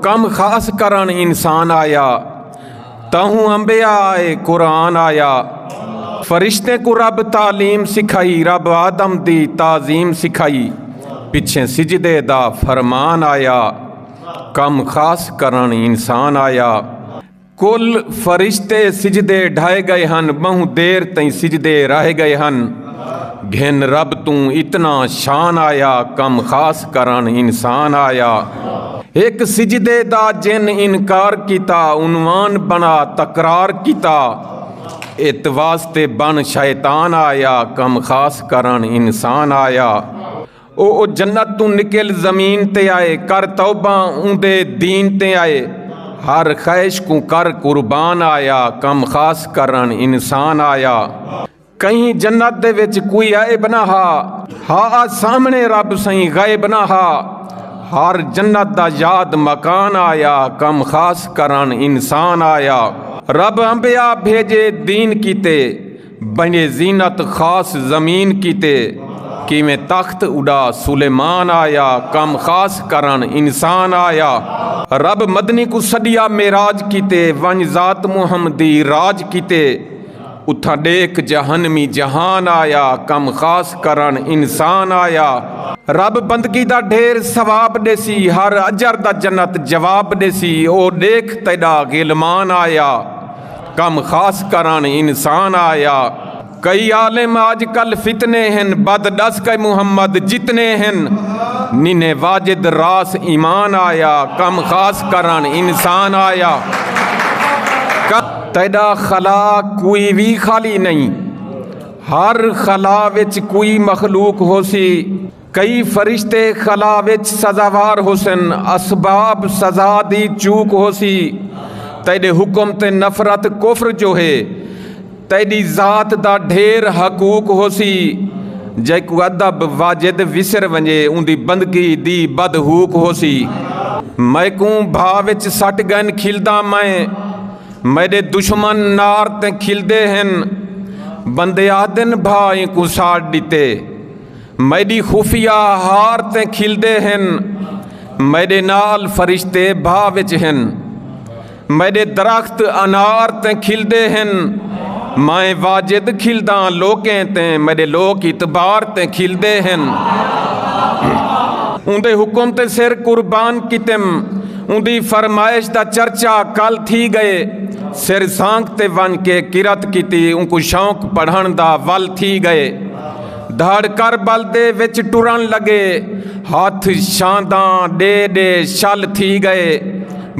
کم خاص کرن انسان آیا تہوں امبیا آئے قرآن آیا فرشتے کو رب تعلیم سکھائی رب آدم دی تعظیم سکھائی پچھے سجدے دا فرمان آیا کم خاص کرن انسان آیا کل فرشتے سجدے ڈھائے گئے ہن بہوں دیر تئیں سجدے راہے گئے ہن گھن رب توں اتنا شان آیا کم خاص کرن انسان آیا ایک سجدے دا جن انکار کیتا عنوان بنا تکرار کیتا ات واسطے بن شیطان آیا کم خاص کرن انسان آیا او او جنت توں نکل زمین تے آئے کر توبہ اون دے دین تے آئے ہر خیش کوں کر قربان آیا کم خاص کرن انسان آیا کہیں جنت دے وچ کوئی آئے بنا ہا ہا آ سامنے رب سائیں گئے بنا ہا ہر جنت دا یاد مکان آیا کم خاص کرن انسان آیا رب انبیاء بھیجے دین کیتے بنی زینت خاص زمین کیتے کیویں تخت اڈا سلیمان آیا کم خاص کرن انسان آیا رب مدنی کوں سڈیا معراج کیتے ونج ذات محمدی راج کیتے اتھاں ڈیکھ جہنمی جہان آیا کم خاص کرن انسان آیا رب بندگی دا ڈھیر ثواب ڈیسی ہر اجر دا جنت جواب ڈیسی او ڈیکھ تیڈا غلمان آیا۔ کم خاص کرن انسان آیا۔ کئی عالم آج کل فتنے ہن بد ڈس کئے محمد جتنے ہن ننے واجد راس ایمان آیا کم خاص کرن انسان آیا۔ تیڈا خلا کوئی وی خالی نئیں ہر خلا وچ کوئی مخلوق ہوسی۔ کئی فرشتے خلا وچ سزاوار ہوسن، اسباب سزا دی چوک ہوسی، تیڈے حکم تے نفرت کفر جو ہے، تیڈی ذات دا ڈھیر حقوق ہوسی، جیکوں ادب واجد وسر ونجے اوندی بندگی دی بد ہوک ہوسی۔ میکوں بھا وچ سٹ گئن کھلداں میں، میڈے دشمن نار تے کھلدے ہن، بندے آہدن بھا اینکوں ساڑ ڈتے، میݙی خفیہ ہار تے کھلدے ہن میݙے نال فرشتے بھا وچ ہن میݙے درخت انار تے کھلدے ہن میں واجد کھلداں لوکیں تے میݙے لوک اعتبار تے کھلدے ہن اوندے حکم تے سر قربان کیتم اوندی فرمائش دا چرچا کل تھی گئے سر سانگ تے ون کے قرت کیتی اونکو شوق پڑھن دا ول تھی گئے دھڑ کر بل دے وچ ٹرن لگے ہتھ شانداں ڈے ڈے شل تھی گئے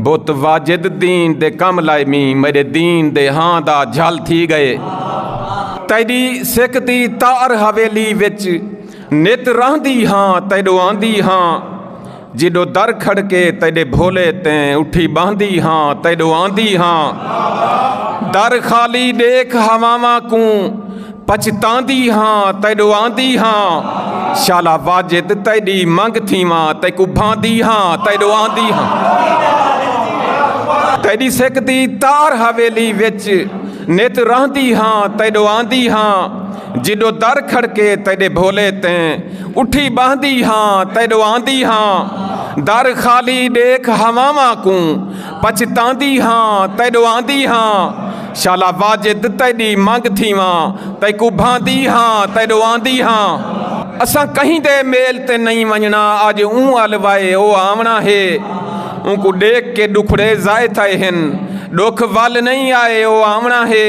بت واجد دین دے کم لائے می میرے دین دے ہاں دا جھل تھی گئے تیڈی سکھ دی تار حویلی وچ نت رہندی ہاں تیڈو آندی ہاں جیݙو در کھڑکے تیݙے بھولے تیں اٹھی ٻاہندی ہاں تیݙو آندی ہاں در خالی ݙیکھ ہواواں کوں پچھتاندی ہاں تیݙو آندی ہاں شالا واجد تیݙی منگ تھیواں تیکو بھاندی ہاں تیݙو آندی ہاں تیݙی سکھ دی تار حویلی وچ نت رہندی ہاں تیݙو آندی ہاں جیݙو در کھڑکے تیݙے بھولے تیں اٹھی ٻہندی ہاں تیݙو آندی ہاں در خالی ݙیکھ ہواواں کوں پچھتاندی ہاں تیݙو آندی ہاں شالا واجد تیݙی منگ تھیواں تیکوں بھاندی ہاں تیݙو آندی ہاں اساں کہیں دے میل تے نئیں ونڄݨا اڄ اوں ال وائے او آوݨا ہے اونکوں ݙیکھ کے ݙکھڑے ضائع تھئے ہن ݙکھ ول نئیں آئے او آوݨا ہے